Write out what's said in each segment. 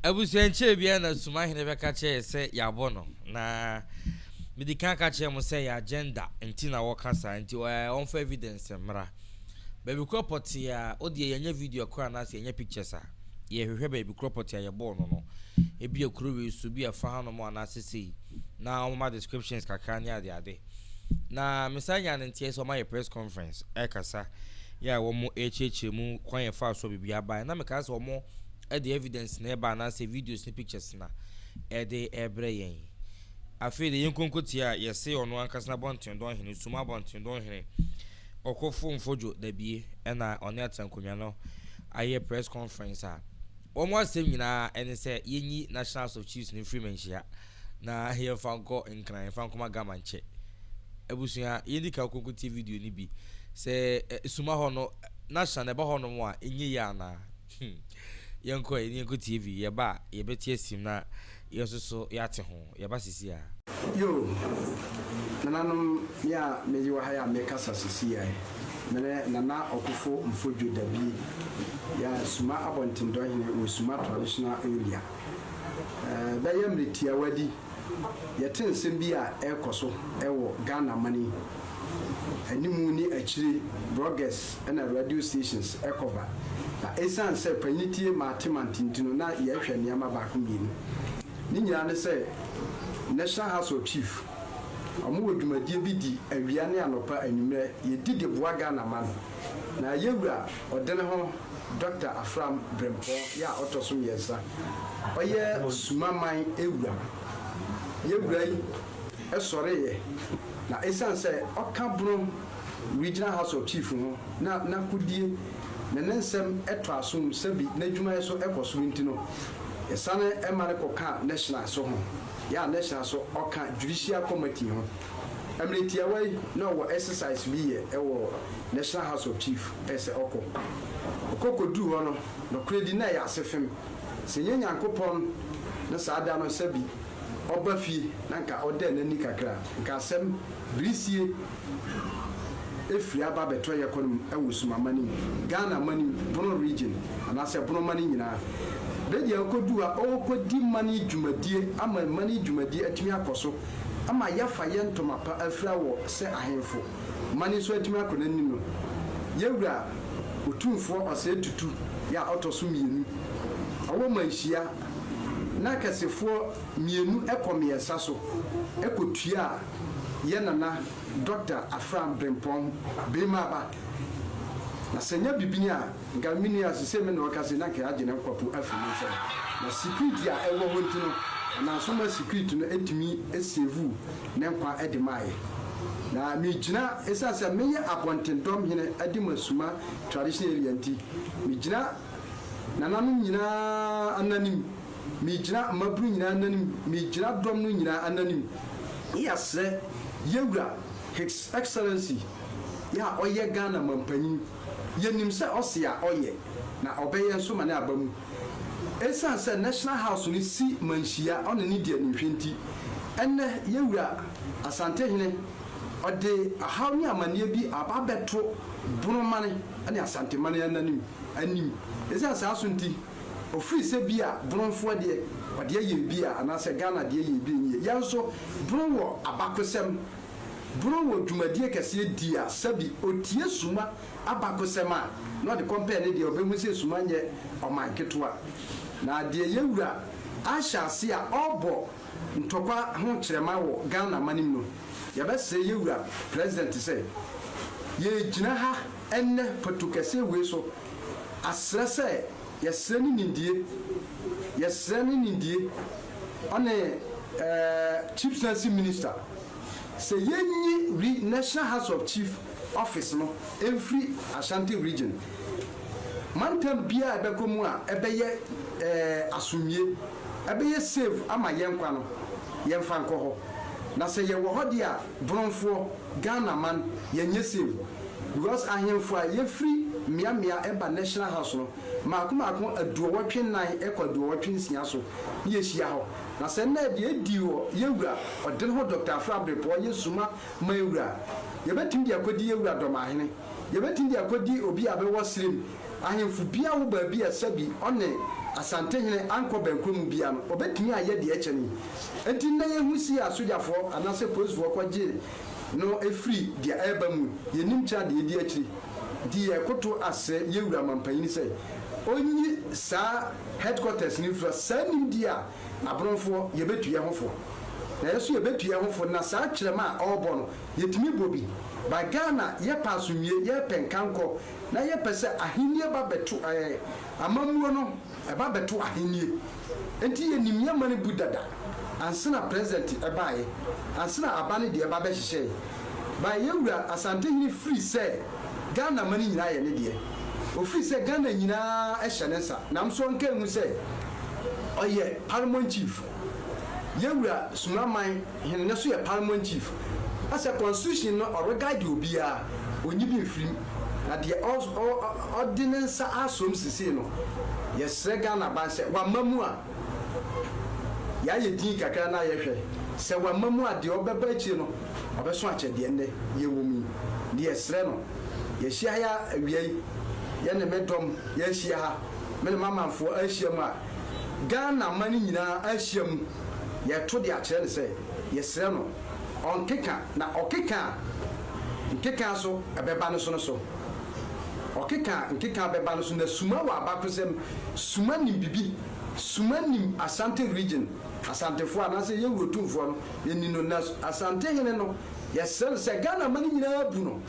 Abusuakyerɛ biara na Sumahene bɛka kyerɛ yɛ sɛ yɛabɔ no, na medi kan ka kyerɛɛ mo sɛ yɛ agenda nti na wɔka saa, nti ɛɛ wɔmfa evidence mmra. Baabi korɔ pɔtee a, wo deɛ yɛnyɛ video koraa anaasɛ yɛnyɛ pictures a, yɛhwehwɛ baabi korɔ pɔtee a yɛbɔɔ no no, ebia kuro wei so, ebia fa hanom anaasɛ sei, na wɔma descriptions kakra ne adeade. Na mesan nyaa no nteɛ sɛ wɔayɛ press conference ɛrekasa, yɛ a wɔrekyerɛkyerɛ mu kwan a yɛfaa so a biribiara baeɛ, na mekaa sɛ wɔn. Ɛde evidence na ɛba anaasɛ videos ne pictures na ɛde ɛbrɛ yɛn. Afei de yɛn konkotia a yɛse ɔno ankasa Abɔntendɔn Hene Sum Abɔntendɔn Hene Ɔkofo Mfodjo Dabie ɛna ɔne Aterankonwa no ayɛ press conference a wɔn asɛm nyinaa ɛne sɛ yɛnyi National House of Chiefs no mfiri manhyia na yɛmfa nkɔ Nkran mfa nkɔma Gama nkyɛ abusua yɛndi ka konkotie video no bi sɛ Suma hɔ no National ɛba hɔ nom a ɛnyɛ yie anaa? Hmm. Yɛnkɔ ɛ, yɛnkɔ tie vi. Yɛba a, yɛbɛte asim na yɛn nso so yɛate ho. Yɛba sesia. Yoo, nananom, me a mede wɔ ha yi a mekasa sesia yi, me ne Nana Ɔkofo Mfodjo Dabi, yɛ Suma Abɔntendɔhene wɔ Suma Traditional Area. Ɛbɛyɛ mmerɛ tiawa bi Yɛte nsɛm bi a ɛrekɔ so wɔ Ghana man yi anim ne akyire, bloggers na radio stations kɔba. Na ɛsiane sɛ panyin tie Matemante nti no, na yɛrehwɛ nneɛma baako mmienu. Ne nyinaa ne sɛ National House of Chief, wɔwɔ dwumadie bi di awia ne anɔpa, anwummerɛ, yɛdi de boa Ghana man. Na yɛwura ɔdene ho Dɔkta Afram Brempɔn yɛ a ɔtɔ so mmiɛnsa. Ɔyɛ Sumaman wura. Yɛ wura yi sɔreeɛ na ɛsiane sɛ ɔka Bono Regional House of Chief ho na n'akodie ne ne nsɛm tɔ asom sɛbi n'adwumayɛ so kɔ soro nti no, yɛsane ma no kɔkaa National so ho, yɛ a National so ɔka Judicial Committee ho. Mmerɛ tiawa yi na ɔwɔ exercise bi yɛ wɔ National House of Chief ɛsɛ ɔkɔ. Ɔkɔ kɔduru hɔ no nɔkorɛdi na ɛyɛ asefem. Sɛ ɛnyɛ Nyankopɔn na saa da no sɛbi ɔba fie na nka ɔdɛɛ nani kakra a nka asɛm birisie ɛfiri aba bɛtɔ yɛ kɔn mu wɔ Suma mani, Ghana mani, Bono region anaasɛ Bono mani nyinaa. Bɛdi a ɔkɔduru hɔ a ɔɔkɔdi mani dwumadie ama mani dwumadie atumi akɔso ama yɛafa yɛn ntoma pa afira wɔ sɛ ahemfo, ma ne nso atumi akɔ n'anim no, yɛn Wura Otumfoɔ Ɔsɛe Tutu yɛ a ɔtɔ so mmienu, ɔwɔ ma nhyia, na akɛsefoɔ mmienu kɔ mmiɛnsa so kɔtuaa yɛn Nana Dɔkta Afram Brempɔn Birimaaba, na sɛ ɛnyɛ bibini a, Nka minni ase sɛ me na ɔka sei na nka yɛagye ne nkwapo afi me nsam. Na secret a ɛwɔ hɔ nti no, ɛnam so ma secret no tumi savuu ne nkwa de maa yɛn. Na migyina, esiane sɛ meyɛ abɔntendɔm hene Adimasuma Traditional Area nti, migyina nananom nyinaa ananim, migyina mmabunu nyinaa ananim, migyina dɔm no nyinaa ananim, yɛsrɛ Yɛwura His Excellency, yɛ a ɔyɛ Ghana Mampanyin, Yenim sɛ ɔse a ɔyɛ na ɔbɛyɛ nso ma no aba mu. Esiane sɛ National House no si manhyia ɔne no di animhwɛ nti, ɛnnɛ Yewura Asantehene ɔde ɔhaw ne amanneɛ bi aba abɛto Bono man ne Asante man anim. Esiane saa nso nti, ɔfiri sɛ bi a Bonofoɔ deɛ ɔde ayɛ bi a anaasɛ Ghana deɛ yɛ bi a ɛnyɛ yie. Yɛn nso Bono wɔ abakosɛm Borɔn wɔ dwumadie kɛseɛ di a sɛbi ɔtie Suma abakosɛm a na ɔde kɔmpɛɛ ne deɛ ɔbɛhu sɛ Suma nyɛ ɔman ketewa. Na deɛ yɛ wura ahyɛ aseɛ a ɔrebɔ ntɔkwa ho kyerɛma wɔ Ghana amanem no, yɛbɛsrɛ yɛ wura President sɛ, yɛregyina ha ɛnnɛ patukɛseɛ wei so asrɛ sɛ, Yɛsrɛ ne nimdie, yɛsrɛ ne nimdie ɔne eh, Chief Sansi Minister sɛ yɛnyi Ri National House of Chief Office no mfiri Ashanti Region mantam biara a ɛbɛkɔ mu a ɛbɛyɛ eh, asomdwie, ɛbɛyɛ safe ama yɛn nkwa no, yɛmfa nkɔ hɔ. Na sɛ yɛwɔ hɔ deɛ a, Brɔfoɔ, Ghana man, yɛ nyɛ safe because ahenfoɔ a yɛfiri mmea mmea ɛba National House no, mmaako mmaako aduɔwɔtwe nnan ɛkɔ aduɔwɔtwe nsia so ne yɛhyia hɔ. Na sɛ nnɛ deɛ ɛdii wɔ yɛn wura ɔdene hɔ Doctor Afra Abrepɔɔ yɛ suma ma yɛn wura a, yɛbɛtumi de akɔdi yɛn wura Dɔmahene, yɛbɛtumi de akɔdi obi a bɛwɔ serɛ mu, ahenfo biara wɔ baabi a sɛbi ɔne Asantehene ankɔ bɛnkɔ mu biara no, ɔbɛtumi ayɛ deɛ ɛkyɛne yi. Enti nnɛ yɛhu si a sogyafoɔ anaasɛ polisfoɔ kɔgye no firi deɛ ɛreba mu yɛnnim kyɛn adeɛ ɛdi akyiri. Nti yɛrekoto asrɛ yɛn wura mampanin sɛ ɔnyi saa headquarters no mfira saa nimdeɛ a aborɔnfoɔ yɛbɛtu yɛn ho fo na yɛn nso yɛbɛtu yɛn ho fo na saa kyerɛma a ɔrebɔ no yɛtumi bɔ bi ba Ghana yɛpɛ asomdwie yɛpɛ nkankɔ na yɛpɛ sɛ ahennie ba bɛto amammuo no Ɛba bɛto ahennie nti yɛ nim yɛ ma no bu dada ansena present ɛbaeɛ ansena aba no deɛ ba bɛ hyehyɛɛ by yɛ wura asantehene firi sɛ Ghana ma no nyinaa yɛ ne deɛ ofiri sɛ Ghana nyinaa ɛhyɛ ne nsa namso nka ɛhu sɛ ɔyɛ paramount chief yɛ wura Sumraman hene no so yɛ paramount chief asɛ constitution no ɔreguide obiara ɔnyi bi mfiri Na deɛ ɔde ne nsa asom sesei no, yɛsrɛ Ghanaban sɛ wama mu a, yɛayɛ din kakra na yɛhwɛ. Sɛ wama mu a, deɛ ɔbɛba akyire no, ɔbɛso akyɛ deɛ nnɛ yɛwɔ mu yi. Nti yɛsrɛ no. Yɛahyia ha awia yi, yɛne me dɔm yɛahyia ha, me ne m'amanfoɔ ahyia mu a, Ghana man nyinaa ahyia mu, yɛreto de akyerɛ no sɛ yɛsrɛ no ɔnkeka. Na ɔkeka a, Nkeka nso bɛba no so no so. Ɔkeka a nkeka bɛba no so na suma wɔ abakosɛm suma nim bibi suma nim Asante region Asantefoɔ anaasɛ yɛn wuro Tumfoɔ no yɛnim no na Asantehene no yɛsrɛ no sɛ Ghana mane nyinaa bu no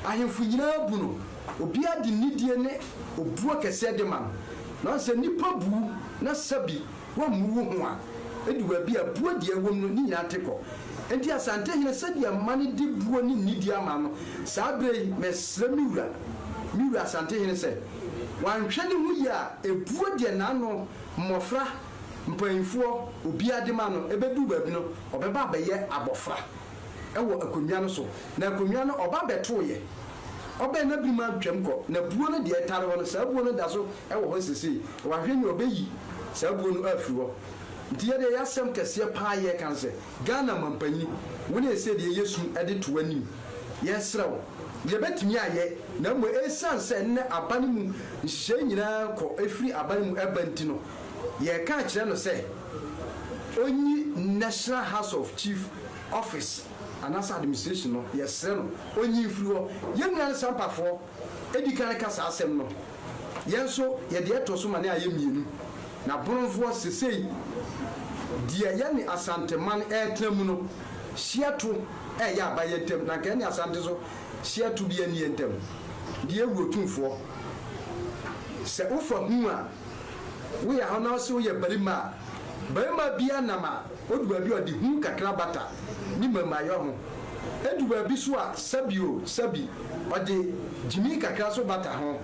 ahemfo nyinaa bu no obiara de nidie ne obuo kɛseɛ de ma no na ɔsɛ nnipa bu wo na sɛ bi Woammu wo ho a edi wɔ bia a buo deɛ ɛwom no ne nyinaa te kɔ. Enti Asantehene sɛdeɛ mma no de buo ne nidie ama no saa berɛ yi, mɛsrɛ me wura, me wura Asantehene sɛ wanhwɛ ne ho yie a ebuo deɛ n'ano, mmɔfra, mpaninfoɔ, obiara de ma no, ɛbɛduru baabi no ɔbɛba abɛyɛ abɔfra. wɔ akonnwa no so, na akonnwa no ɔba bɛtoeɛ. Ɔbɛn na biri ma twam kɔ, na buo no deɛ ɛtare hɔ no, saa buo no da so wɔ hɔ sesei. Wahwɛ nie ɔbɛyi saa buo no afiri hɔ. Nti yɛdeɛ ɛyɛ asɛm kɛseɛ paa yɛreka no sɛ, Ghana mampanyin, wo ne ɛsɛ deɛ yɛsu de to w'anim. Yɛsrɛ wo, deɛ ɛbɛtumi ayɛ, na mmom ɛsiane sɛ nnɛ aba no mu nhyehyɛeɛ nyinaa kɔ firi aba no mu ba nti no, Yɛreka akyerɛ no sɛ ɔnyi National House of Chief Office anaasɛ Administration no, yɛsrɛ no ɔnyi mfiri hɔ. Yɛn nua no Sampafoɔ di kan ka saa asɛm no. Yɛn nso yɛ deɛ ɛtɔ so ma ne ayɛ mmienu. Na Boronfoɔ sesei deɛ yɛne Asanteman retena mu no, hyeɛ to reyɛ aba yɛn ntam. Na anka yɛne Asante nso hyeɛ to biara nni yɛn ntam. Deɛ Owurotumfoɔ, sɛ wofa hu a. woyɛ hɔ na ɔse woyɛ barima a, barima biaa nam a odu baabi a ɔde hu kakra bata ne mmarimayɔ ho. Edu baabi so a sɛbi o sɛbi ɔde gyimii kakra nso bata ho.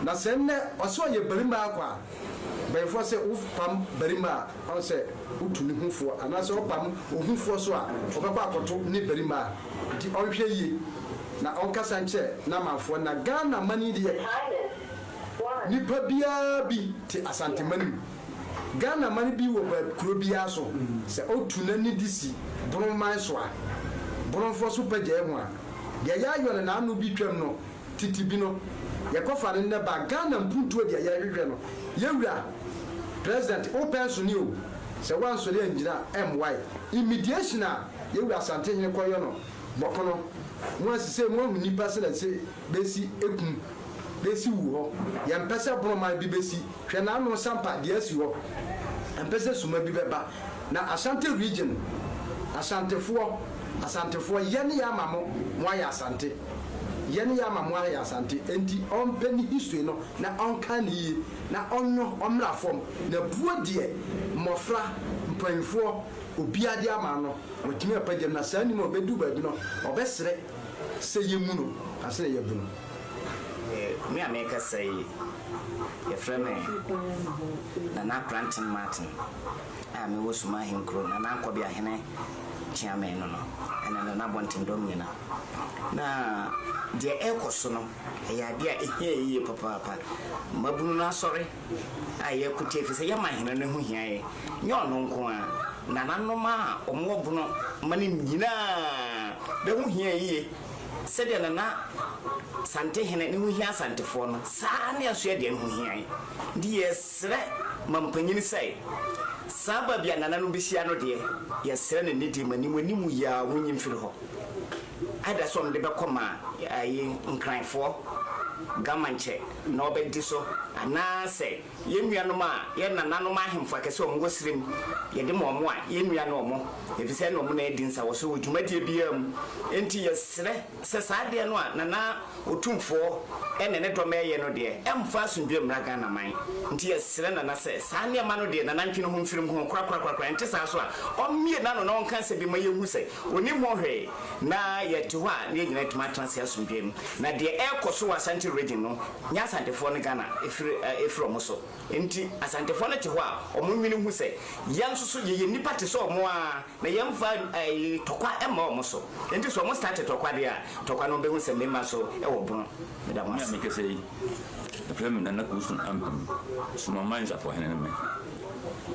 Na sɛ nnɛ ɔse ɔyɛ barima ara kwa a, mpanyimfoɔ se wo pam barima a ɔn sɛ wotu ne ho foɔ anaa sɛ ɔpam ohu foɔ so a ɔbɛkɔ akɔto ne barima a nti ɔnhwɛ yie na ɔnkasa nkyerɛ n'amanfoɔ na Ghana man yi deɛ. Silence Nipa biara bi te Asanteman mu, Ghana man bi wɔ baabi kuro biara so sɛ otu n'ani de si Bono man so a, Bonofoɔ so pagyae ho a, deɛ yɛayɔ no n'ano bi twam no tete bi no yɛkɔfa no nnɛ ba Ghana mpuntuo deɛ yɛhwehwɛ no yɛwura President wo pɛ nso ne o sɛ woansɔre angyina mmoae immediation a yɛwura Asantehene kɔyɔ no bɔkono moasisei moahu nipa sɛ na se besi ekum, besi wu hɔ. Yɛmpɛ sɛ borɔman bi besi, hwɛ n'ano nsampa deɛ asi hɔ. Yɛmpɛ sɛ suma bi bɛba. Na Ashanti region, Ashantefoɔ, Asantefoɔ, yɛne yɛ ama mo, mo ayɛ Asante. Yɛne yɛ ama mo ayɛ Asante. Enti ɔmpɛ ne history no na ɔnkan no yie, na ɔnnwo, ɔmmra fam, na buo deɛ mmɔfra, mpanyinfoɔ, obiara de ama no, watumi apagyam, na saa nim a ɔbɛduru baabi no, ɔbɛsrɛ. Sɛ yɛ mu no na sɛ yɛ bu no. Me a mekasa yi yɛ frɛ me Nana Kranten Martin a me wɔ Suma Ahenkuro Nana Nkɔbea Hene Kyeame no no ɛna Nana Abɔnten Dɔm Nyina na deɛ ɛkɔ so no ɛyɛ adeɛ a ɛhia yɛ yie papaapa Mmabunu no asɔre. a yɛreko tia efisɛ yɛma Hene no ho hia yɛn. Nyɛ ɔno nko ara, nananom a wɔwɔ bono ma no nyina ara bɛ ho hia yie. Sɛdeɛ Nana Santehene ne ho hia Asantefoɔ no, saa ara ne Asoɛ deɛ no ho hia yɛn. Nti yɛresrɛ ma mpanyini sɛ, saa baabi a nananom bɛhyia no deɛ, yɛsrɛ no ne deɛ mu anim anim yi ara wɔnyi mfiri hɔ. Ada sɛ ɔno de bɛkɔ ma ayi Nkranfoɔ, Gamankyɛ, na ɔbɛdi so, anaa sɛ yɛn nuanom a, yɛn nananom ahemfo akɛse a wɔn wɔ serem, yɛde ma wɔn a, yɛn nua ne wɔn, efisɛ ɛna wɔn na adi nsawɔso wɔ dwumadie biara mu. Enti yɛsrɛ sɛ saa adeɛ no a Nana Otumfoɔ ɛne ne dɔm ɛɛyɛ no deɛ, ɛmfa asomdwoeɛ mmra Ghana man. Nti yɛsrɛ Nana sɛ saa nneɛma no deɛ Nana ntwe ne ho mfiri ho korakorakorakora, ɛnte saa nso a, ɔmmue n'ano na ɔnka asɛm bi ma yɛnhu sɛ, Ɔnim hɔ hwee, na yɛte hɔ a na yɛn nyinaa atumi atena ase asomdwoeɛ mu. Na deɛ ɛrekɔso wɔ Asante region no nyɛ Asantefoɔ no Ghana ɛfiri ɛfiri wɔn so. Ɛnti Asantefoɔ no te hɔ a wɔn nwene hu sɛ yɛn nso so yɛyɛ nnipa te sɛ wɔn ara na yɛn mfa ɛɛ tɔkwa mma wɔn so. Ɛnti sɛ wɔn starte tɔkwa deɛ a, tɔkwa no wɔn bɛhu sɛ mmarima nso wɔ bono. Meda mo ase. Me a mekasa yi, yɛfrɛ me Nana Kusu Ampem, Somaman Nsafohene ne me.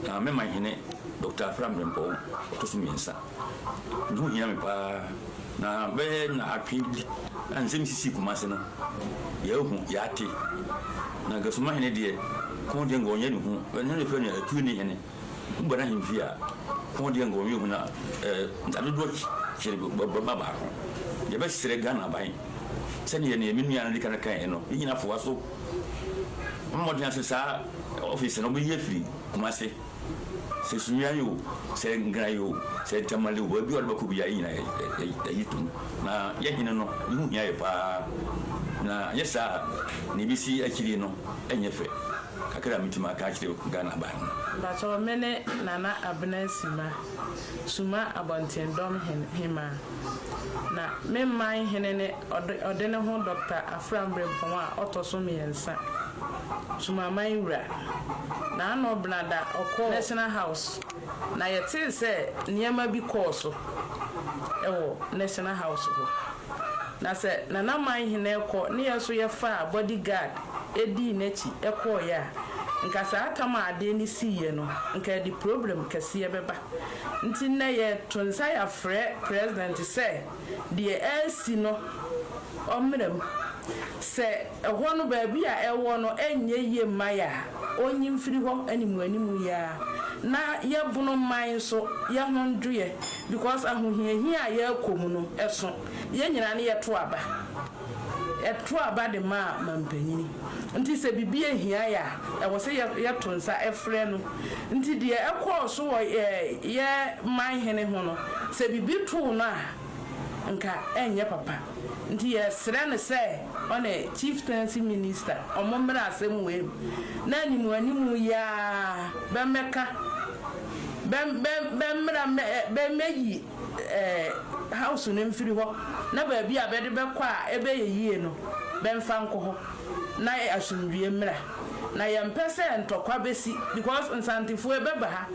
Na me manhene Doctor Afra Mprempɔw ɔto so mmiɛnsa. Eho hia me paa na bɛyɛ nnaawɔtwe bi a nsɛm sisii Kumase no, yɛahu, yɛate. Na Gasuma hene deɛ, ko deɛ nka ɔnyɛ ne hu. Ɛno na ɛfrɛ no atuo ne hene. Woba n'ahemfie a, ko deɛ nka ɔnyɛ hu na eh, ntadodoɔ kyere bɛma baako. Yɛbɛsrɛ Ghana aban sɛdeɛ neɛ me nua no de kan kaeɛ no, ne nyina foa so. Ɔmmɔ mmɔden ase saa ɔfese no, ɔbɛyi afiri Kumase. sɛ sunya yi o, sɛ nkran yi o, sɛ ntamale o, baabi a ɔde bɛkɔ biara yɛn nyinaa yɛyi tom na yɛn hene no ne ho hia yɛ paa na yɛ saa na ebesi akyiri no ɛnyɛ fɛ kakra a metumi aka akyerɛ Ghana aban no. Mpatsɔ me ne Nana Abena Sima. Suma Abɔntendɔm Hemmaa. Na me man hene ne ɔde ne ho Dɔkta Afram Brempɔn a ɔtɔ so mmiɛnsa, Sumaman wura. Na ano bena da ɔkɔɔ National House na yɛtee sɛ nneɛma bi kɔɔ so wɔ National House hɔ. Na sɛ Nana Manhene rekɔ ne yɛ nso yɛfaa body guard dii n'akyi kɔeɛ a, nka saa tam a adeɛ no siiɛ no, nka ɛde problem kɛseɛ bɛba. Nti nnɛ yɛto nsa yɛafrɛ President sɛ deɛ ɛresi no ɔmmra mu. Sɛ Ɛhɔ no, baabi a ɛwɔ no nyɛ yie mma yɛ a, ɔnyi mfiri hɔ animuanimu yi ara na yɛbono mma nso yɛ ho nnwoeɛ because ahohiahia a yɛrekɔ mu no so yɛn nyinaa no yɛto aba. Yɛto aba de ma manpanyini nti sɛ biribi hia yɛ a ɛwɔ sɛ yɛto nsa frɛ no nti deɛ ɛkɔɔ so wɔ yɛ man hene ho no sɛ biribi too no a, nka ɛnyɛ papa nti yɛsrɛ no sɛ ɔne Chieftaincy Minister ɔmo mmra asɛm wei mu na anim anim yi ara bɛmmɛka bɛ bɛ bɛmmra mmɛ bɛmmɛyi ɛɛ house no mfiri hɔ na baabi a bɛde bɛkɔ a ɛbɛyɛ yie no bɛmfa nkɔ hɔ na asomdwie mmra na yɛmpɛ sɛ ntɔkwa bɛsi because Nsantefoɔ bɛba ha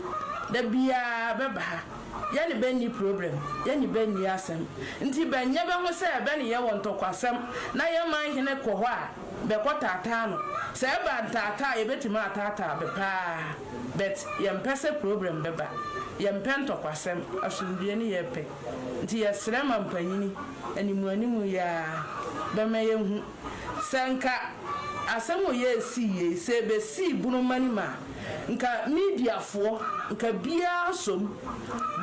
da biara bɛba ha Yɛne bɛ nni problem, yɛne bɛ nni asɛm, nti bɛnyɛ bɛ ho sɛ bɛne yɛn wɔ ntɔkwasɛm, na yɛn man hene kɔ hɔ a, bɛkɔ taataa no. Sɛ ɛba ntaataa a, yɛbɛtumi ataataa bɛ pa ara, but yɛmpɛ sɛ problem bɛba. Yɛmpɛ ntɔkwasɛm, asomdwoeɛ ne yɛpɛ. Nti yɛsrɛ ma mpanyini, animuanimu yi ara, bɛma yɛhu. Sɛ nka asɛm wɔ yɛ esii yei sɛ ebesii bunu ma nim a nka media foɔ nka biaa som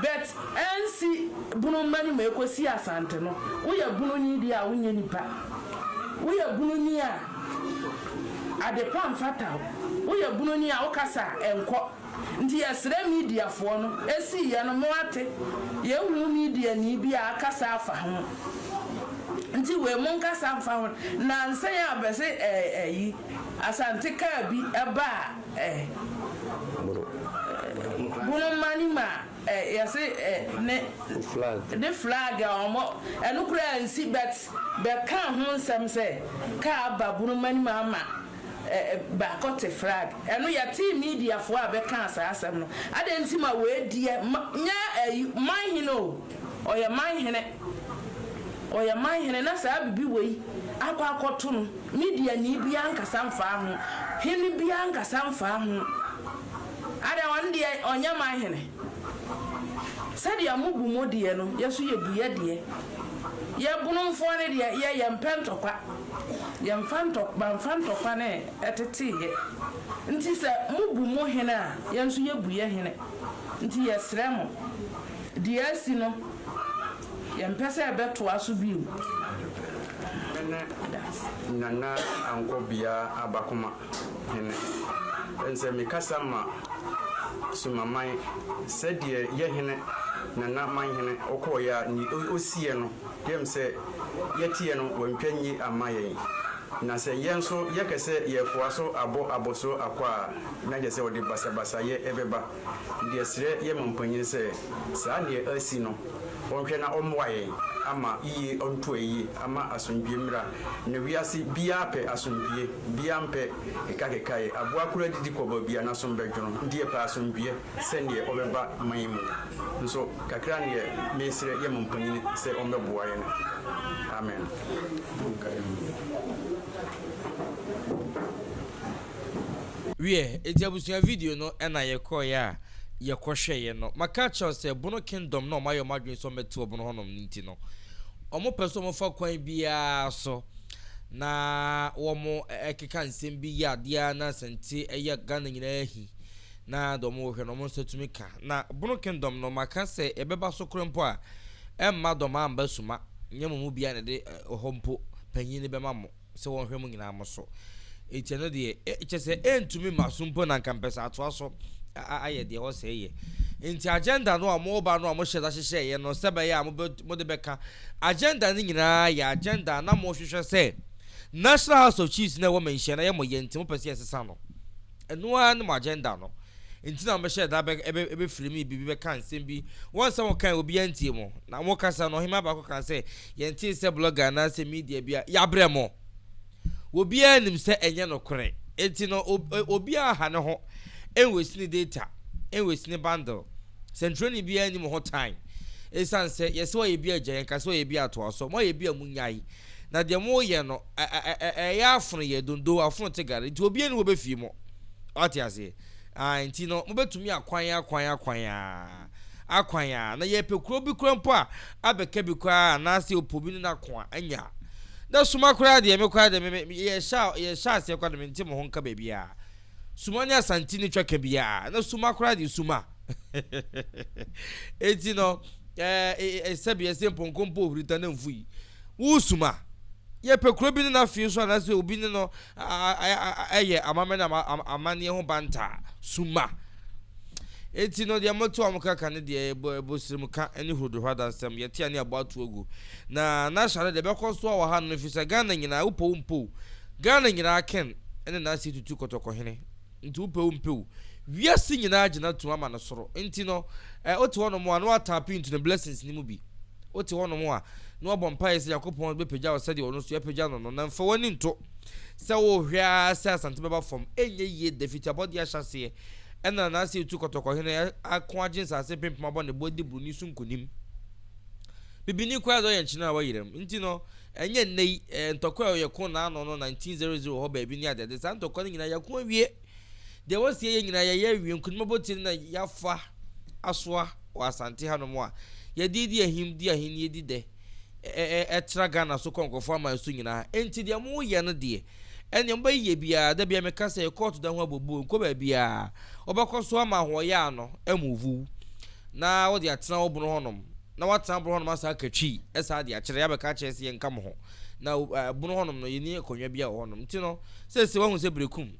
but ansi bunu ma nim ekosi asante no woyɛ bunu ni deɛ a wonyɛ nipa woyɛ bunu ni a adepa nfata wo woyɛ bunu ni a wokasa a ɛnkɔ Nti yɛsrɛ media foɔ no ɛsii yɛ no mo ate yɛnhunu media nii bi a akasa afa ho nti wei mo nkasa mfa ho nansa yi a bɛse ɛɛ ɛyi asante car bi ɛba a ɛɛ bono mane mu a ɛɛ yɛse ɛɛ ne ne flag a ɔmɔ ɛno koraa nsi but bɛka ho nsɛm sɛ car aba bono mane mu ama baako te frag. Ɛno yɛtee mediafoɔ a bɛkaa saa asɛm no. Adɛn nti ma wei deɛ ma nyɛ ayi man hene o ɔyɛ man hene ɔyɛ man hene na saa bibi wei akɔ akɔto no mediani biara nkasa mfaa ho hene biara nkasa mfaa ho adɛn ɔno deɛ ɔnyɛ man hene sɛdeɛ mo bu mo deɛ no yɛ so yɛ bu yɛ deɛ yɛ bonomfoɔ no deɛ yɛ yɛ mpɛ ntɔkwa. Yɛmfa ntɔ bamfa ntɔkwa ne ɛteteeɛ nti sɛ mobu mo hene a yɛn nso yɛbu yɛn hene nti yɛsrɛ mo deɛ asi no yɛmpɛ sɛ ɛbɛtoa so bio. Nana Anko Bia Abakoma hene ɛnsɛ mekasa ma Sumaman sɛdeɛ yɛhene Nana Manhene ɔkɔɔeɛ a neɛ ɔsiiɛ no Dɛm sɛ yɛteɛ no wɔntwa nyi amma yɛn, na sɛ yɛn nso yɛkɛ sɛ yɛɛfoa so abɔ abɔsoɔ akɔ a, na kyerɛ sɛ ɔde basabasayɛ ɛbɛba. Ndeɛ srɛ yɛn mampanyin sɛ saa neɛ asi no ɔnhwɛ na ɔmmoa yɛn ama yie ɔnto ayie ama asomdwie mmra, na wiase biaa pɛ asomdwie, biaa mpɛ kekakekaeɛ, aboa koro adidi kɔ baabi a nasom bɛdwono, ndeɛ pɛ asomdwie. sɛ deɛ ɔbɛba aman yi mu, nso kakra no deɛ mesrɛ yɛ mo mpanin sɛ ɔmbɛboa yɛn. Amen. Monka Amen. Wiɛ, enti abusua video no na yɛkɔeɛ a yɛkɔhwɛeɛ no, maka akyerɛ wo sɛ Bono Kingdom na wɔayɛ wɔn adwene sɛ wɔbɛte wɔ Bono hɔnom no nti no, wɔpɛ sɛ wɔfa kwan biara so na wɔkeka nsɛm bi yɛ adeɛ ara na asɛnte yɛ Ghana nyinaa ahi Na dɔm wɔ hwɛ na ɔmo nsa tumi ka. Na Bono Kingdom no, maka sɛ ɛbɛba so koro mpo a, ɛmma dɔm amba suma, nyɛ mo mu biaa na ɛde hɔ mpo panyin no bɛma mo sɛ wɔnhwɛ mo nyinaa mo so. Nti ɛno deɛ, kyerɛ sɛ ɛntumi mma so mpo na nka mpɛ sɛ atoa so ayɛ deɛ ɛwɔ sɛ yɛ. Nti agenda no a ɔmo ba no a ɔmo hyɛ da hyehyɛeɛ no sɛ bɛyɛ a mobɛ mode bɛka agenda no nyinaa yɛ agenda a na mo hwehwɛ sɛ National House of Chiefs no a ɛwɔ manhyia no ayɛ mo yɛ nti mopɛ sɛ yɛsesa no. Ɛno ara ne mo agenda no nti na mobɛhyɛɛ da bɛfrɛ me biribi bɛka nsɛm bi. Wɔn nsɛm a wɔkae obiara ntie mo. Na mo kasa no ɔhemmaa baako kaa sɛ, Yɛntee sɛ blogger anaasɛ media bi a yɛabrɛ mo. Obiara nim sɛ ɛnyɛ nokorɛ. Enti no obiara aha ne ho nwɛsi ne data, nwɛsi ne bundle. Sɛnkyerɛwni biara nni mo ho tan. Ɛsiane sɛ yɛse wɔayɛ bi agya yɛnka sɛ wɔayɛ bi atoa so. Moayɛ bi a monyae. Na deɛ moreyɛ no. ɛyɛ afono yɛ dondo afono te gare nti obi ani wɔ bɛ fie mɔ ɔte aseɛ ah nti no mobɛtumi akwan akwan akwan a akwan a na yɛpɛ kuro bi kura mpo a abɛka bi koraa anaasɛ ɔpɔ bi ne no ako a anya na suma koraa deɛ me koraa deɛ me yɛhyɛ yɛhyɛ aseɛ koraa na mente mo ho nka baabi a suma ne asanti ne twaka bi a na suma koraa deɛ suma enti no ɛɛ sɛbi ɛsɛ mpɔnkɔ mpo ohurita na mfui Woresu ma yɛpɛ kuro bi ne n'afie so anaasɛ obi ne no yɛ amammerɛ ne amanneɛ ho banta a, su ma. Enti no, deɛ mote wɔn kaka ne deɛ ɛbɔ ɛbosrem ka ne huruduhɔ adansɛm, yɛte a ne yɛabɔ ato agu. Na n'ahyɛ no deɛ ɛbɛkɔ so wɔ hanom ɛfiri sɛ Ghana nyinaa, wopɛ o wompɛ o, Ghana nyinaa Ken ne n'ase tutu kɔtɔkɔhene. Nti wopɛ wo mpɛ o wiase nyinaa gyina tum ama no soro nti no eh wote hɔ nom a na wa tap into ne blessings no mu bi wote hɔ nom a na wa bɔ mpaeɛ sɛ Nyankopɔn bɛ pagya wo sɛdeɛ ɔno nso ya pagya no no na nfa wani nto sɛ wo hwɛ ara sɛ Asante bɛba fam ɛnyɛ yie da fiti abɔdeɛ ahyɛ aseɛ ɛna na ase etu kɔtɔkɔ hene ako agye nsase mpempem abɔ ne bo adi broni so nkonim bibini koraa de ɔyɛ nkyene a wa yeram nti no Ɛnyɛ nnɛ yi ntɔkwa a ɔyɛ ko n'ano no, 1900 wɔ hɔ baabi ne adeade. Saa ntɔkwa no nyinaa yɛako awie. Deɛ wɔsi yɛyɛ nyinaa yɛayɛ awie. Nkonim abotire na yɛafa asoa wɔ Asante hanom a yɛde redi ahim, di ahennie, di dɛ, tra Ghana so kɔ nkurɔfoɔ aman so nyinaa. Enti deɛ moyɛ no deɛ, Ɛnneɛ mobɛyɛ yɛ biara, da biara meka sɛ kɔɔto da ho abobuo, nkɔ baabiara, wobɛkɔ so ama ahoɔyaa no amuvu na wode atena wo bono hɔnom, na woatena bono hɔnom asan aka twi, ɛsan ade akyerɛ, abɛka akyerɛ sɛ yɛnka mo ho, na bono hɔnom no yɛnni akonnwa biara wɔ hɔnom, nti no seesei woahu sɛ Berekum,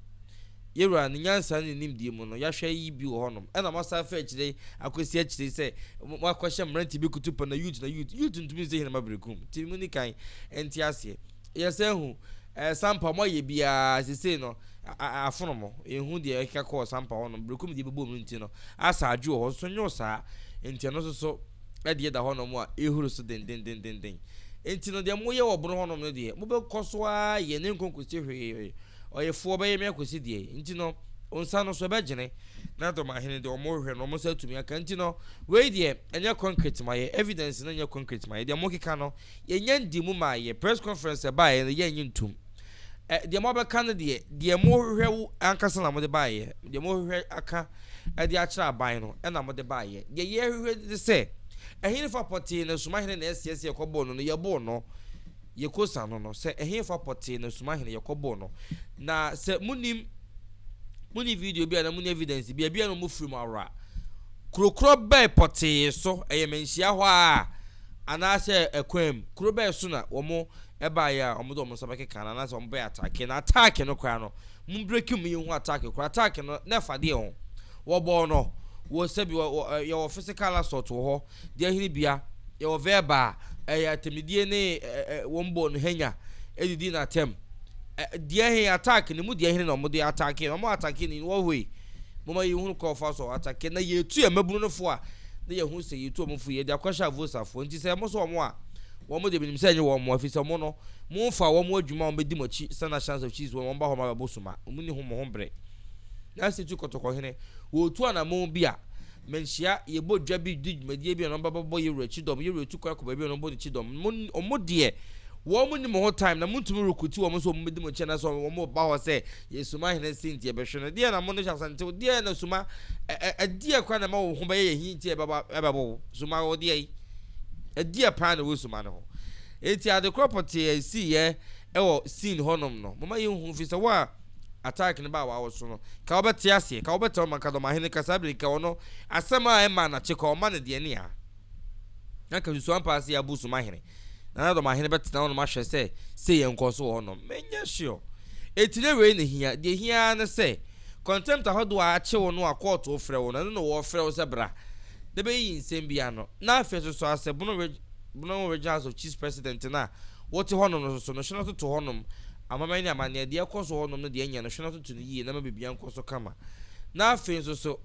yɛwura ne nyansa ne ne nimdeɛ mu no, yɛahwɛ yi bi wɔ hɔnom, ɛna moasan afa akyire yi akɔsi akyire yi sɛ moakɔhyɛ mmeranteɛ bi kutupa na youth na youth, youth ntumi nsi Heneman Berekum, nti monni kan nte aseɛ. Yɛsan hu ɛɛ Sampa, wɔayɛ bi ara sesei no, afono mo. Yɛnhu deɛ ɛkeka kɔɔ Sampa hɔnom, Berekum deɛ ɛbɛbɔɔ mu nti no. Asa Adwo wɔ hɔ nso nyɛ saa, nti ɛno nso so ɛdeɛ da hɔnom a ɛhuru so dendendenden. Nti no deɛ moyɛ wɔ Bono hɔnom no deɛ, mobɛkɔ so ara ayɛ na ɛnkɔ nkɔsi hwee. Ɔyefoɔ bɛyɛ me akɔsi deɛ? Nti no, nsa no so ɛbɛgyene. Na Dɔmahene deɛ wɔn rehwɛ no, wɔn nsa atumi aka. Nti no, wei deɛ ɛnyɛ concrete mayɛ, evidence no nyɛ concrete mayɛ, deɛ mokeka no, Yɛnya ndi mu ma yɛ. Press conference a ɛbaeɛ no yɛnnye ntom. Ɛ, deɛ moabɛka no deɛ, deɛ mohwehwɛ wo ankasa na mode baeɛ, deɛ mohwehwɛ aka de akyerɛ aban no na mode baeɛ. Deɛ yɛhwehwɛ ne sɛ, ɛhefa pɔtee na Sumahene na ɛseɛ sɛ yɛkɔboo no no, yɛboo no. Yɛkɔsa no no sɛ, ɛhefa pɔtee na Sumahene yɛkɔboo no. Na sɛ monim, monni video bi a na monni evidence bi a, ebia na wɔfiri mo awora. Kuro korɔ bɛn pɔtee so? Ɛyɛ manhyia hɔ ara. anaasɛ ɛkwan mu, kuro bɛn so na wɔn baeɛ a wɔde wɔn nsa bɛkeka no anaasɛ wɔn bɛyɛ ataake na ataake no koraa no mo breki mu yɛnhu ataake koraa ataake no na ɛfa deɛ ho wɔbɔɔ no wɔ sɛbi wɔ wɔ ɛ, yɛwɔ physical assault wɔ hɔ deɛ ɛhene bia yɛwɔ verbal a ɛyɛ atɛmidie ne ɛ, ɛ, ɛ, wɔn bɔɔ no hanya ɛdidi na atɛm ɛ, deɛ he ataake no mu deɛ hene na wɔde ataake no wɔn ataake no in what way Momma yenhunu kwan a wɔfaa so atakee na yetu yɛn mmabunu no fo a na yehu sɛ yetu wɔn fo yi, yɛde akɔhyɛ Avosafoɔ. Enti sɛ wɔsɔ wɔn a, wɔn de, minim sɛ ɛnyɛ wɔn mmoa, efisɛ wɔn no, momfa wɔn mmɔ adwuma a wɔbedi mo akyi sɛnea chance of cheese wɔ no, wɔmma hɔ mma bɛbɔ suma. Munni ho mo ho bere. Nanso etu kɔtɔkɔhene. Wɔretu anammɔn bi a, manhyia, yɛbɔ dwa bi di dwumadie bi a na wɔba bɛbɔ yɛn wura kyidɔm, yɛn wura tu kwan kɔ baabi a na wɔbɔ no kyidɔm. Mo, wɔn deɛ, wɔn nni mo ho time, na montumi rekrute wɔn sɛ wɔmmɛdi mo akyi anaasɛ wɔn ba hɔ sɛ Yɛ suma hene se nti ɛbɛhwe no deɛ na mo no hyɛ asa nti wo deɛ na suma ɛdeɛ kora na ɛma wo ho bɛyɛ yɛ hi nti ɛbɛbɔ wo suma wo deɛ ɛdeɛ paa na ɛwɔ suma no ho eti ade korɔ pɔtee a ɛsii yɛ ɛwɔ scene hɔ nom no moma yɛ hu fi sɛ wo a attack no baa wawo so no ka wo bɛte aseɛ ka wo bɛte ɔma ka dɔma hene ka saa bere ka ɔno asɛm a ɛma na kye ka ɔma no deɛ ne a na ka susu ampa ase abu suma hene Na na dɔmahene bɛtena hɔnom ahwɛ sɛ sei yɛ nkɔɔ so wɔ hɔnom. Menyɛ sure. Enti na wei na ehia. Deɛ ehia ara ne sɛ, contempt ahodoɔ a akye wo no a kɔɔto frɛ wo no, ɛno na wɔrefrɛ wo sɛ bra na bɛyiyi nsɛm bi ano. Na afei nso so ara sɛ Bono Ridge Bono Ridge House of Chiefs President no a wote hɔnom no nso so no, hwɛ na toto hɔnom amammerɛ ne amanneɛ, deɛ ɛrekɔ so wɔ hɔnom ne deɛ ɛnyɛ no, hwɛ na toto no yie na ma biribiara nkɔ so kama. Na afei nso so.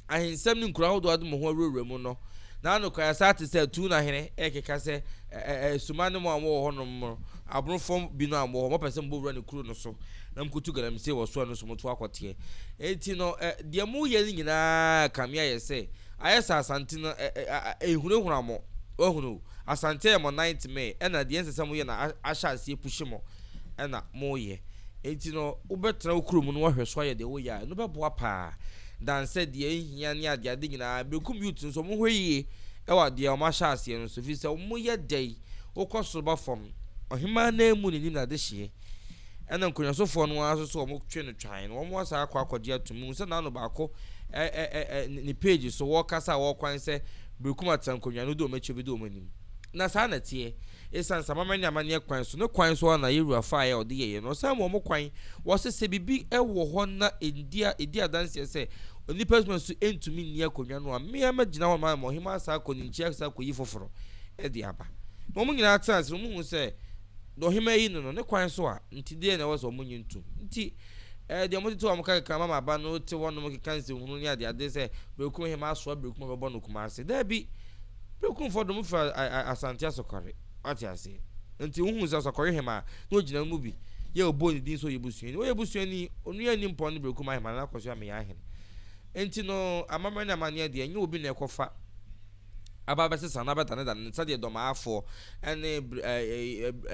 Ahensɛm ne nkuro ahodoɔ de mo ho awurawura mu no, na nokorɛ asaa te sɛ tuu na hene rekeka sɛ, Ɛ-ɛ-ɛ asuma ne mo a mowɔ hɔ nom no, aborofoɔ bi no a mowɔ hɔ, mopɛ sɛ mobɔ wura ne kuro no so, na mokotu galamsey wɔ so a ɛno nso moto akɔ teɛ. Enti no, ɛ, deɛ moreyɛ no nyina ara kame ayɛ sɛ, ayɛ sɛ asante no, ɛ, ɛ, a, ɛrehurahura mo. Woahunu? Asante ayɛ mo nan temee, ɛna deɛ ɛnsɛ sɛ moyɛ no a, ahyɛ aseɛ apushe mo, ɛna moreyɛ. Enti no, wobɛtena wo kuro mu na woahwɛ so ayɛ deɛ woreyɛ a, ɛno bɛboa pa ara. Dan sɛ deɛ ɛnhia ne adeɛ ade nyinaa. Benkum youths no nso wɔn hwɛ yie wɔ adeɛ a wɔn ahyɛ aseɛ no so ɛfiri sɛ wɔn yɛ dɛ yi wo kɔ soro ba fam ɔhemaa no ara mu ne nim na ade hyeɛ ɛna nkonnwasofoɔ no ara nso so wɔn twe no twan no wɔn asan akɔ akɔgye atum mu sɛ n'ano baako ɛ ɛ ɛ ɛ ne page so wɔkasa a wɔkwan sɛ Benkum atena nkonnwa no do wɔn akyi obi do wɔn anim na saa na ɛteɛ. Esiane sɛ amammerɛ ne amanneɛ kwan so ne kwan so ara na Yeroa faeɛ a ɔde yɛeɛ no, ɔsan wɔn kwan. Wɔse sɛ biribi wɔ hɔ na ɛndi a, ɛdi adanseɛ sɛ onipa adwuma nso ntumi nni akonnwa no a, me ara mɛgyina hɔ ama Ɔhemmaa Sarko ne Nkyia Sarko yi foforo de aba. Na wɔn nyinaa tena ase na wɔhuu sɛ deɛ Ɔhemmaa yi ne no, ne kwan so a, nti deɛn na ɛwɔ sɛ wɔnnye ntom? Nti. Ɛɛ, deɛ wɔtete wɔn kɛkɛ kan ma ma ba no te hɔnom keka nsɛnhunu ne adeade sɛ berekum hemmaa asoa berekum a wɔbɛbɔ no Kumase. Dabi! Berekumfoɔ de wɔn fira Asante Asɔkɔre. Wate aseɛ? Nti wohuu sɛ Asɔkɔre hemmaa, na ɔgyina wɔn mu bi, yɛ ɔbɔɔ ne din sɛ ɔyɛ busuani. Ɔyɛ busuani! Onua nni mpɔn ne berekum ahemmaa na n'akɔsoa meyɛ ahene. Nti no, amammerɛ ne amanneɛ deɛ, ɛnyɛ obi na ɛkɔfa. aba abɛsesa na abɛdanedane no sɛdeɛ dɔmaafoɔ ne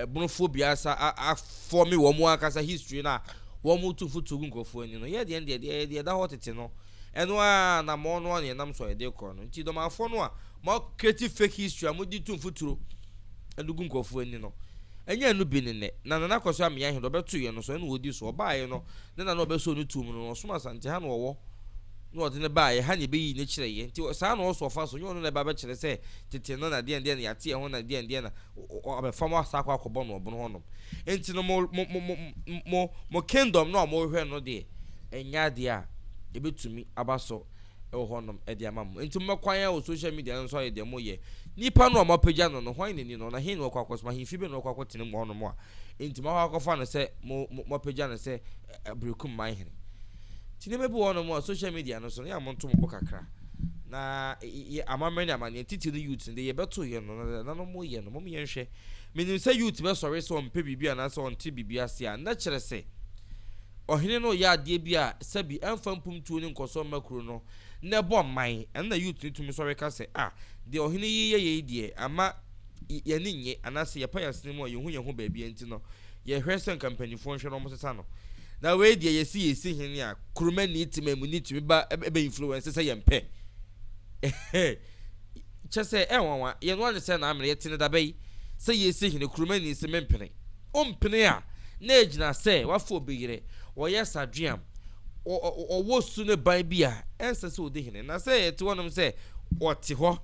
ɛbonofoɔ biasa afɔme wɔn ankasa history no a wɔtu fo to gu nkurɔfoɔ ani no. Yɛ deɛ no deɛ deɛ deɛ ɛda hɔ tete no ɛno ara anammɔn no a na yɛnam so a yɛde kɔ no nti dɔmaafoɔ no a mo create fake history a mode tu mfuturo ɛde gu nkurɔfoɔ ani no ɛnyɛ ɛno bi ne nnɛ na Nana Akosua Ameya he deɛ ɔbɛtoeɛ no so ɛna ɔdi so ɔbaaeɛ no ne nana ɔbɛsoo no tuo mu no na ɔsom Asante ha na ɔwɔ na ɔde no baa yɛn ha na yɛbɛyii no kyerɛɛ yɛn, nti saa na ɔwɔ sɛ ɔfa so, nyɛ ɔno na ɛba abɛkyerɛ sɛ tete no na deɛn deɛn na yɛate ɛho na deɛn deɛn na ɔbɛfa mo asa akɔ akɔbɔ no ɔbono hɔnom. Nti no mo, mo, mo, mo, mo, mo kingdom no a morehwɛ no deɛ, ɛnyɛ adeɛ a ɛbɛtumi aba so wɔ hɔnom de ama mo. Nti mommɛkɔ ayɛ wɔ social media no nso ayɛ deɛ moyɛ. Nipa no a moapagya no no, hwan na ɛni no? Na he na wakɔ akɔsom? Ahemfie bɛn na wakɔ akɔtena mu hɔnom a nti moakɔ akɔfa no sɛ mo, mo, moapagya no sɛ Aberekum man hene. Nti nneɛma bi wɔ hɔnom a social media no so no yɛ a monto mo bo kakra na yɛ amammerɛ ne amanneɛ titiri no youth no de yɛbɛto yɛ no na no mo yɛ no mo yɛ nhwɛ menim sɛ youth bɛsɔre sɛ ɔmpɛ biribi anaasɛ ɔnte biribi ase a na kyerɛ sɛ ɔhene no yɛ adeɛ bi a sɛbi ɛmfa mpomtuo ne nkɔsɔ mma kuro no na ɛbɔ mman ɛno na youth no tumi sɔre ka sɛ a ah, deɛ ɔhene yi yɛ yɛ yi deɛ ama yɛne nye anaasɛ yɛpa yɛasene mu a yɛhu yɛn ho baabi nti no Yɛhwɛ sɛ nka mpanyimfoɔ nhwɛ na wɔsesa no. Na wei deɛ yɛsi yɛsi hene a kuruma ni tema mu ni tumi ba ɛbɛ influence sɛ yɛn pɛ. Kyɛ sɛ ɛnwanwa yɛn no ane sɛ na amene yɛte ne dabɛ yi sɛ yɛsi hene kuruma ni se mempene. Ompene a na ɛgyina sɛ wafa obi yere, ɔyɛ sadweam, ɔwɔ su ne ban bi a ɛnsɛ sɛ ɔdi hene. Na sɛ ɛte hɔnom sɛ ɔte hɔ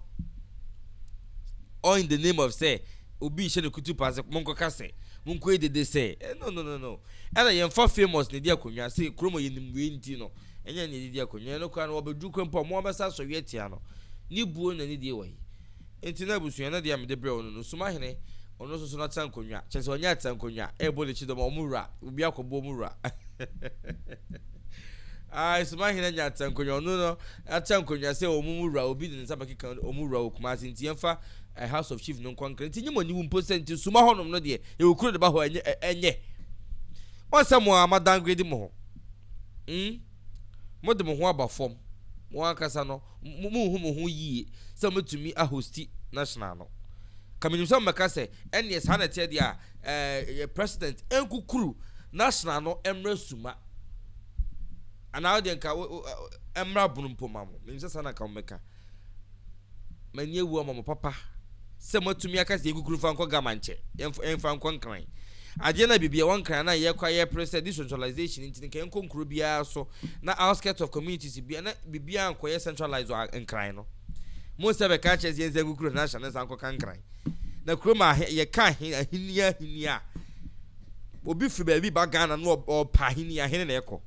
all in the name of sɛ obi rehyɛ no kutupa sɛ mo nkɔka sɛ mo nkɔyi dede sɛ eh no no no no ɛna yɛn fa famous ne di akonnwa sɛ kurom a yɛnim wei nti no ɛnyɛ ne yɛde di akonnwa ɛno koraa no wɔbɛduru kwan mpo a mo abɛsa asɔre atia no ne buo na ne die wɔ yi nti na abusua no deɛ a mede brɛ wɔn no no suma hene ɔno nso so no atena nkonnwa kyerɛ sɛ ɔnyɛ atena nkonnwa ɛrebɔ ne kyidɔm a wɔn wura obi akɔbɔ wɔn wura ah suma hene anya atena nkonnwa ɔno no Akyɛ nkonnwa sɛ wɔn mu wura obi de ne nsa bɛkeka wɔn mu wura wɔ Kumasi nti yɛmfa ɛɛ House of Chief no nkɔ Ankara nti nyim ɔnyiw mpo sɛ nti suma hɔnom no deɛ yɛwɔ kuro de ba hɔ ɛnyɛ ɛɛ ɛnyɛ wɔn sɛ mo ara mo adowngrade mo ho mm mo de mo ho aba fam mo ankasa no mo mo nhu mo ho yie sɛ mo bɛtumi ahosti national no ka menim sɛ mo bɛka sɛ ɛneɛ saa na ɛteɛ deɛ a ɛɛ yɛ president ɛnkukuru national no ɛmmerɛ suma. Anaa wodeɛ nka wo wo ɛmmra bono mpo ma mo. Menim sɛ saa na nka mobɛka. M'ani awu ama mo papa sɛ moatumi aka sɛ yɛnkukuru mfa nkɔ Gama nkyɛ. Yɛmfa yɛmfa nkɔ Nkran. Adeɛ no a biribi ɛwɔ Nkran na yɛkɔ a yɛpere sɛ decentralization nti nka yɛnkɔ nkuro biara so na outskirts of communities biara na biribiara nkɔyɛ centralized wɔ Nkran no. Mohu sɛ bɛka akyerɛ sɛ yɛnsan nkukuru Hanahsha no nsan nkɔka Nkran. Na kurom a yɛka ahenni ahenni a obi firi baabi ba Ghana na ɔpa ahenni ahene na ɛkɔ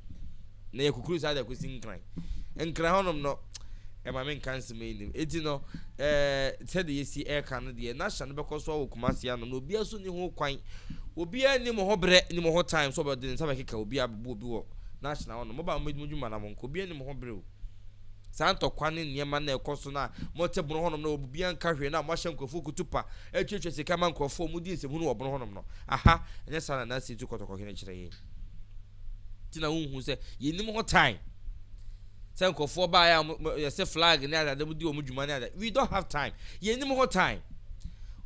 na yɛ kukuru saa de ɛkɔsi nkran nkran hɔnom no ɛma me nka nsɛm yi nim eti no ɛɛ sɛde yɛsi ɛka no deɛ n'ahyɛ no bɛkɔ so awɔ kumasi ano na obiara so ni ho kwan obiara ni mo ho brɛ ni mo ho time so ɔbɛde ne nsa bɛkeka obiara bɛbu obi wɔ n'ahyɛ na hɔnom mo ba mo dwuma na mo nkɔ obiara ni mo ho brɛ o. Saa ntɔkwa ne nneɛma no a ɛkɔ so no a mote bono hɔnom no wɔ biribiara nka hwee no a moahyɛ nkurɔfoɔ kutupa atuatua sika ama nkurɔfoɔ a modi nsɛmhunu wɔ bono hɔnom no. Aha, ɛnyɛ saa na Nancy tu kɔtɔkɔ hwene kyerɛ yɛn. Nti na wonhu sɛ yɛnnim ho time. Sɛ nkurɔfoɔ baeɛ a mo, mo, yɛse flag ne adeade modi wɔn dwuma ne adeade. We don't have time. Yɛnnim ho time.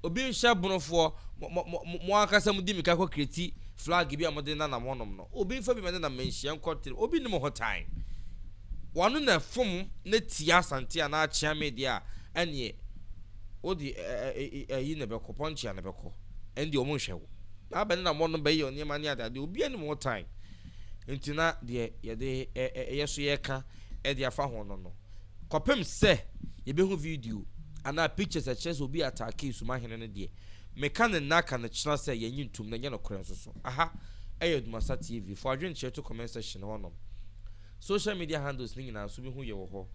Obi nhyɛ bonofoɔ, mo, mo, mo, mo ankasa modi mika kɔ kreti flag bi a mode nanam hɔnom no. Obi nfa bi ma ne nam manhyia nkɔ tiri. Obi nnim ho time. W'ano na ɛfom na tia Asante anaa akyea me deɛ a, ɛneɛ wode ayi na ɛbɛkɔ, pɔnkyea na ɛbɛkɔ. Ɛnde wɔn nhwɛ wo. Na abɛn na wɔnom bɛyɛ nneɛma ne adeadeɛ. Obiara nim ho time. Nti na deɛ yɛde yɛ so yɛka de afa ho no no, kɔpem sɛ yɛbɛhu video anaa pictures a ɛkyerɛ sɛ obi ataakee Sumahene no deɛ, meka no nnɛ aka no kyena sɛ yɛnnye ntom na ɛnyɛ nokorɛ nso so. Aha ɛyɛ Dumasa TV. Fa w'adwenkyerɛ to comment section hɔnom. Social media handles no nyinaa nso bɛhu yɛ wɔ hɔ,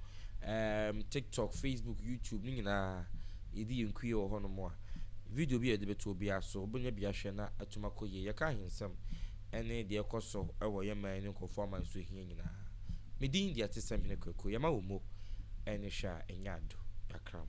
um, TikTok, Facebook, YouTube no nyinaa yɛdi yɛn kuie wɔ hɔnom a video bi a yɛde bɛto obiara so wobɛnya bi ahwɛ na atum akɔ yie. Yɛka ahensɛm ne deɛ ɛkɔ so wɔ yɛn man ne nkurɔfoɔ aman so hia nyinaa. Me din deɛ ɛte sɛ Hene Kwaku, yɛma wo mo ne hwɛ a ɛnyɛ ado, yɛakra mo.